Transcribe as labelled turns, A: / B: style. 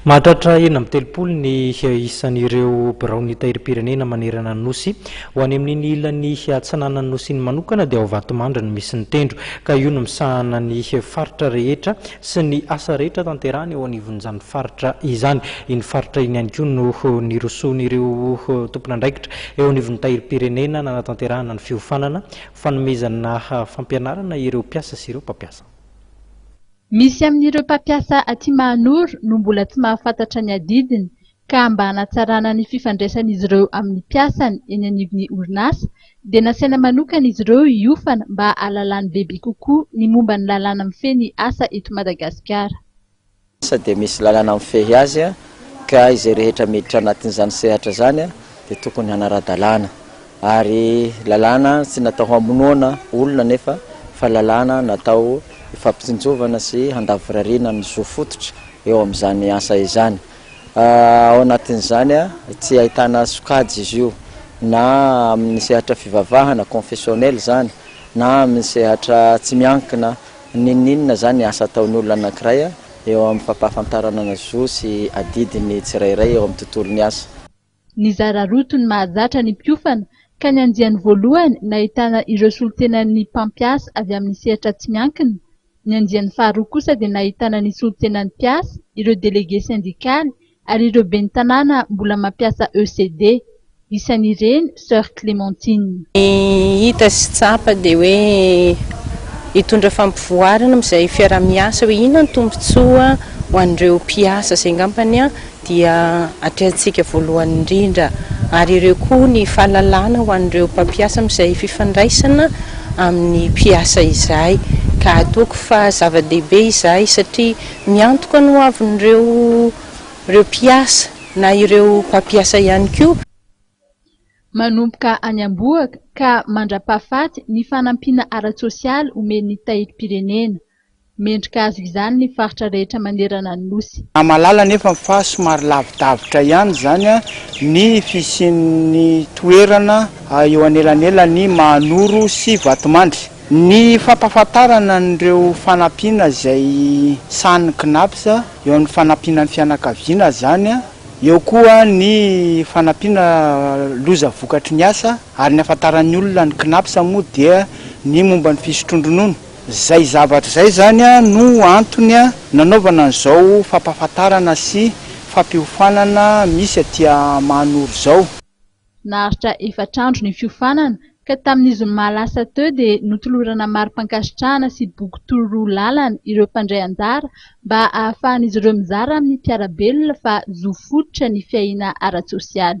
A: Mahatratra enina amby telopolo ny isan'ireo biraon'ny Tahirim-pirenena manerana ny Nosy. Ho any amin'iny ilany atsinanan'ny Nosy iny manokana dia ao Vatomandry no misy ny tendro, ka io no misahana ny faritra rehetra sy ny asa rehetra tanterahana eo anivon'izany faritra izany. Iny faritra iny ihany koa no nirosoan'ireo tompon'andraikitra eo anivon'ny Tahirim-pirenena nanatanterahana ny fiofanana fanomezana fampianarana ireo mpiasa sy ireo mpampiasa.
B: Misy amin'ireo mpampiasa aty Mahanoro no mbola tsy mahafantatra ny adidiny ka mba hanatsarana ny fifandraisan'izy ireo amin'ny mpiasany eny anivon'ny orinasa dia nasaina manokana izy ireo hiofana mba hahalalany bebe kokoa ny momba ny lalàna mifehy ny asa eto Madagasikara. asa
C: dia misy lalàna mifehy azy ka izay rehetra miditra anatin'izany sehatra izany dia tokony hanara-dalàna. Ary lalàna tsy natao hamonoana olona anefa fa lalàna natao hifampitsinjovana sy handavorariana ny zo fototra eo amin'izany asa izany. Ao anatin'izany tsy ahitana sokajy izy io na amin'ny sehatra fivavahana, confessionnel, izany na amin'ny sehatra tsy miankina n'inon'inona izany ny asa ataon'ny olona anankiray eo amin'ny fampahafantarana ny zo sy adidiny tsirairay eo amin'ny tontolon'ny asa. Nizara
B: roto ny mahazatra ny mpiofana ka ny andiany voalohany nahitana ireo solontenan'ny mpampiasa avy amin'ny sehatra tsy miankina, ny andiany faharoa kosa dia nahitana ny solontenan'ny mpiasa, ireo delege sendikaly ary ireo ben'ny tanàna mbola mampiasa ECD. Isan'ireny Soeur Clémentine. Ny hita
D: sy tsapa dia hoe hitondra fampivoarana amin'izay fiaraha-miasa hoe inona ny tombontsoa ho an'ireo mpiasa izay angambany. dia atrehantsika voalohany indrindra ary ireo koa ny fahalalana ho an'ireo mpampiasa amin'izay fifandraisana amin'ny mpiasa izay ka toako fa zava-dehibe izay satria miantoka ny hoavin'ireo ireo mpiasa na ireo mpampiasa ihany koa. Manomboka
B: any am-bohoka ka mandra-pahafaty ny fanampiana ara-tsosialy omen'ny Tahirim-pirenena. Mendrika azy izany ny faritra rehetra manerana ny Nosy. Namalala anefa fa
E: somary lavidavitra ihany izany ny fisian'ny toerana eo anelanelan'i Mahanoro sy Vatomandry. Ny fampahafantarana an'ireo fanampiana izay sahanin'ny Cnaps eo amin'ny fanampiana ny fianakaviana izany, eo koa ny fanampiana loza vokatry ny asa ary ny ahafantaran'ny olona ny Cnaps moa dia ny momba ny fisotroan-dronono. Izay zavatra izay izany no antony nanaovana an'izao fampahafantarana sy fampiofanana misy aty Mahanoro izao. Naharitra
B: efatra andro ny fiofanana ka tamin'ny zoma lasa teo dia notolorana mari-pankasitrahana sy boky tororoa lalana ireo mpandray anjara mba ahafahan'izy ireo mizara amin'ny mpiara-belona fa zo fototra ny fiahiana ara-tsosialy.